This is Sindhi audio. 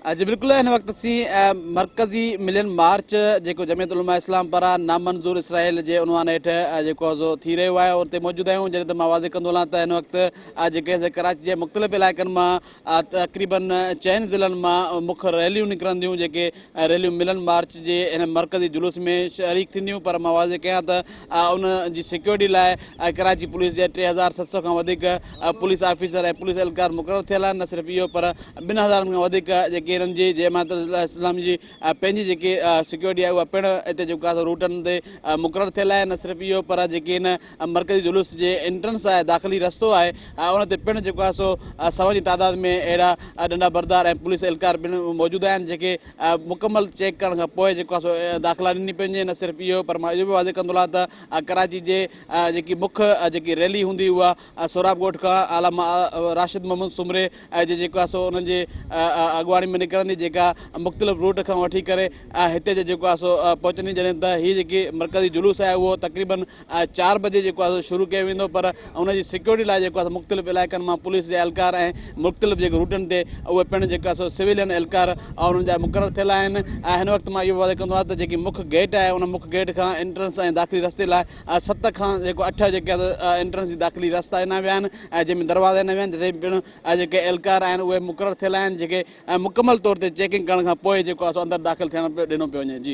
جي بلڪل هن وقت اسين مرڪزي ملين مارچ جيڪو جمعيت علماء اسلام پاران نامنظور اسرائيل جي عنوان هيٺ جيڪو آهي ٿي رهيو آهي اتي موجود آهيون جڏهن ته مان واضح ڪندو هلان ته هن وقت جيڪي ڪراچي جي مختلف علائقن مان تقريبن چئن ضلعن مان مک ريليون نڪرنديون جيڪي ريليون ملن مارچ جي هن مرڪزي جلوس ۾ شريڪ ٿينديون پر مان واضح ڪيان ته ان جي سيڪيورٽي لاء ڪراچي پوليس جي ٽي هزار ست سؤ کان وڌيڪ پوليس آفيسر ۽ پوليس اهلڪار مقرر ٿيل آهن نه صرف اهو پر ٻن هزارن کان وڌيڪ جيڪي هنن جي جماعت اسلامي جي پنهنجي جيڪي سيڪيورٽي آهي اها پڻ هتي جيڪو خاص روٽن تي مقرر ٿيل آهي نه صرف اهو پر جيڪي هن مرڪزي جلوس جي انٽرنس آهي داخلي رستو آهي ان تي پڻ جيڪو آهي سو سون جي تعداد ۾ اهڙا ڏنڊا بردار ۽ پوليس اهلڪار پڻ موجود آهن جيڪي مڪمل چيڪ ڪرڻ کان پوء جيڪو آهي سو داخلا ڏني پوندي، نه صرف اهو پر مان اهو به واضح ڪندو لان ته ڪراچي جي جيڪي مک جيڪي ريلي هوندي اها سهراب ڳوٺ کان علامه راشد محمد سومري جي جيڪو آهي سو انهن جي اڳواڻي ۾ نڪرندي جيڪا مختلف روٽ کان وٺي ڪري هتي جي جيڪو آهي سو پهچندي جڏهن ته هي جيڪي مرڪزي جلوس آهي اهو تقريبن چار بجي جيڪو آهي سو شروع ڪيو ويندو پر ان جي سيڪيورٽي لاء جيڪو آهي مختلف علائقن مان پوليس جا اهلڪار ۽ مختلف جيڪي روٽن تي اهي پڻ جيڪو آهي سو سويلين اهلڪار انهن جا مقرر ٿيل آهن هن وقت مان اهو واضح ڪندو آهيان ته جيڪي مک گيٽ آهي ان مک گيٽ کان انٽرنس ۽ داخلي رستي لاء ست کان جيڪو اٺ جيڪي انٽرنس جي داخلي رستا ڏنا ويا آهن جنهن ۾ دروازا ڏنا ويا آهن جتي پڻ جيڪي اهلڪار آهن اهي مقرر ٿيل آهن جيڪي مڪمل طور تي چيڪنگ ڪرڻ کان پوء جيڪو آهي سو اندر داخل ٿيڻ ڏنو پيو وڃي جي